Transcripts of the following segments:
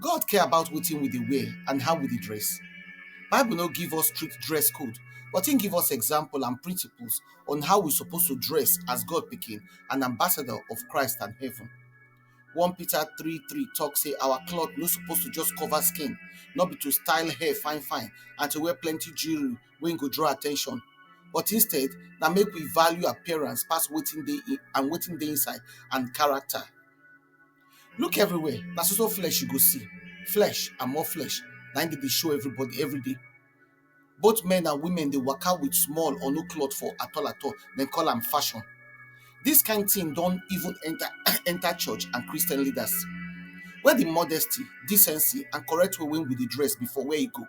God care about wetin we dey wear and how we dey dress. Bible no give us strict dress code, but im give us example and principles on how we suppose to dress as God pikin and ambassador of Christ and heaven. 1 Peter 3 3 talk say our cloth no suppose to just cover skin, not be to style hair fine fine and to wear plenty jewelry wey go draw attention. But instead, na make we value appearance pass wetin dey and wetin dey inside and character. Look everywhere, na so so flesh you go see. Flesh and more flesh, na im dey dey show everybody every day. Both men and women dey waka with small or no cloth for at all at all, dem call am fashion. Dis kind thing don even enter enter church and Christian leaders. Where the modesty, decency and correct way wey we dey dress before, where e go?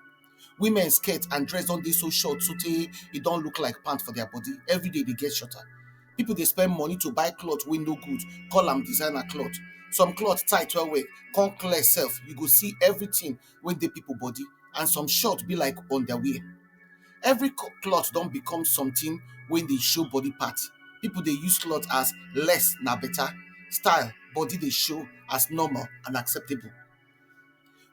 women skirt and dress don dey so short so tey e don look like pant for their body every day dey get shorter people dey spend money to buy cloth wey no good call am designer cloth some cloth tight well well come clear sef you go see everything wey dey people body and some short be like underwear every co- cloth don become something wey dey show body part people dey use cloth as less na better style body dey show as normal and acceptable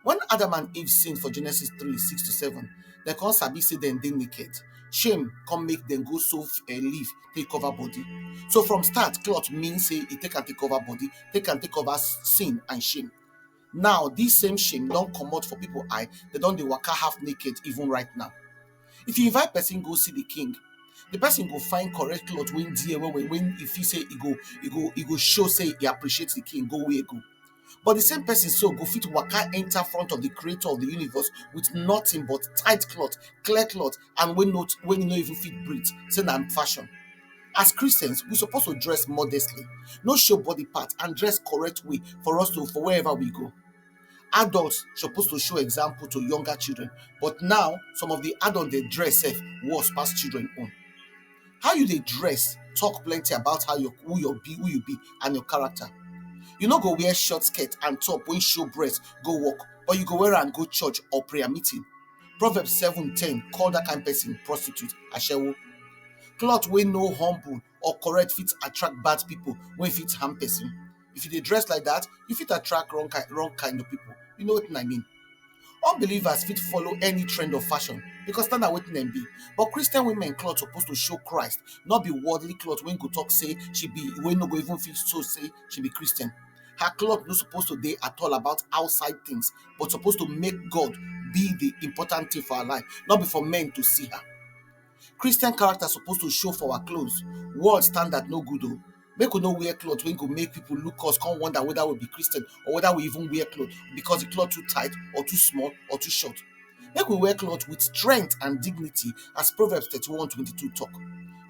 Wen Adam and Eve sin for Genesis three six to seven, dem come sabi sey dem dey naked. Shame come make dem go sew um leaf take cover body. So from start, cloth mean sey e take am take cover body, take am take cover sin and shame. Now dis same shame don comot for pipu eye, dem don dey waka half naked even right now. If you invite person go see de king, de person go find correct cloth wey well well wey e fit sey e go e go e go show sey e appreciate de king go where e go. But the same person so go fit waka enter front of the creator of the universe with nothing but tight cloth, clear cloth, and when not when you no even fit breathe, say na fashion. As Christians, we supposed to dress modestly, no show body part, and dress correct way for us to for wherever we go. Adults supposed to show example to younger children, but now some of the adults they dress safe worse past children own. how you dey dress talk plenty about how your who your be who you be and your character you no go wear short skirt and top wey show breast go work but you go wear am go church or prayer meeting proverbs seven ten call that kind person prostitute ashewo cloth wey no humble or correct fit attract bad people wey fit harm person If you dey dress like that, you fit attract wrong kind wrong kind of people. You know wetin I mean? Unbelievers fit follow any trend of fashion because na na wetin dem be. But Christian women cloth suppose to show Christ, no be worldly cloth wey go talk say she be wey no go even fit show say she be Christian. Her cloth no suppose to dey at all about outside things, but suppose to make God be the important thing for her life, no be for men to see her. Christian character suppose to show for our clothes. World standard no good o. Make we no wear cloth wey go make people look us come wonder whether we be Christian or whether we even wear cloth because the cloth too tight or too small or too short. Make we wear cloth with strength and dignity as Proverbs 31 22 talk.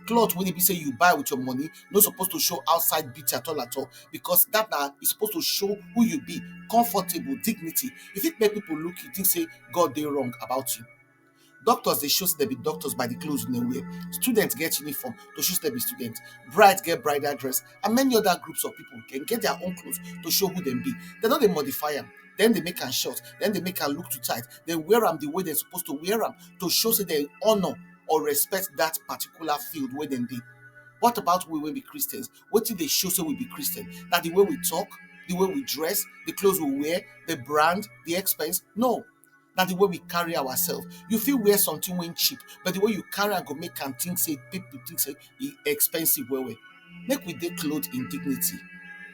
Cloth wey e be say you buy with your money no suppose to show outside beauty at all at all because that na e suppose to show who you be, comfortable, dignity. E fit make people look you think say God dey wrong about you. Doctors dey show sey dem be doctors by the cloth wey dem wear. Student get uniform to show sey dem be student. Bride get bridal dress and many other groups of people. Dem get their own cloth to show who dem be. Dem no dey modify am. Dem dey make am short. Dem dey make am look too tight. Dem wear am the way dem suppose to wear am to show sey dem honour or respect dat particular field wey dem dey. What about we wey be Christians? Wetin dey show sey we be Christian? Na the way we talk? The way we dress? The cloth we wear? The brand? The expense? No. na the way we carry ourselves you fit wear something wey cheap but the way you carry am go make am think say people think say e expensive well well make we dey clothe in dignity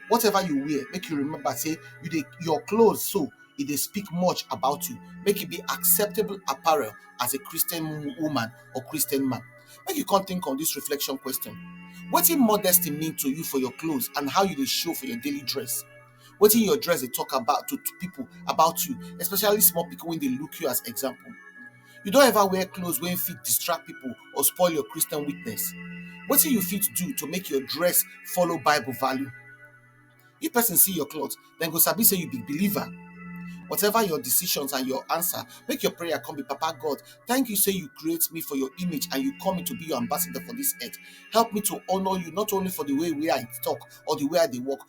whatever you wear make you remember say you dey your clothes so e dey speak much about you make e be acceptable apparel as a christian wo- woman or christian man make you come think on this reflection question wetin modesty mean to you for your clothes and how you dey show for your daily dress wetin your dress dey talk about to people about you especially small pikin wey dey look you as example you don ever wear clothes wey fit distract people or spoil your Christian witness wetin you fit do to make your dress follow bible value if person see your cloth dem go sabi say you be believer whatever your decisions and your answer make your prayer come be papa God thank you say you create me for your image and you call me to be your ambassador for this earth help me to honor you not only for the way wey I talk or the way I dey walk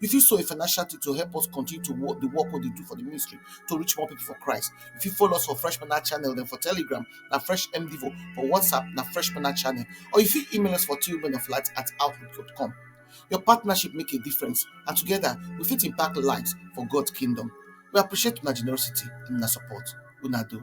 You fit sow a financial thing to help us continue to work the work we dey do for the ministry to reach more people for Christ. You fit follow us for Fresh Manna channel, then for Telegram, na Fresh MDivo, for WhatsApp, na Fresh Manna channel, or you fit email us for tubemenoflight at outlook.com. Your partnership make a difference, and together we fit impact lives for God's kingdom. We appreciate una generosity and una support. Una do.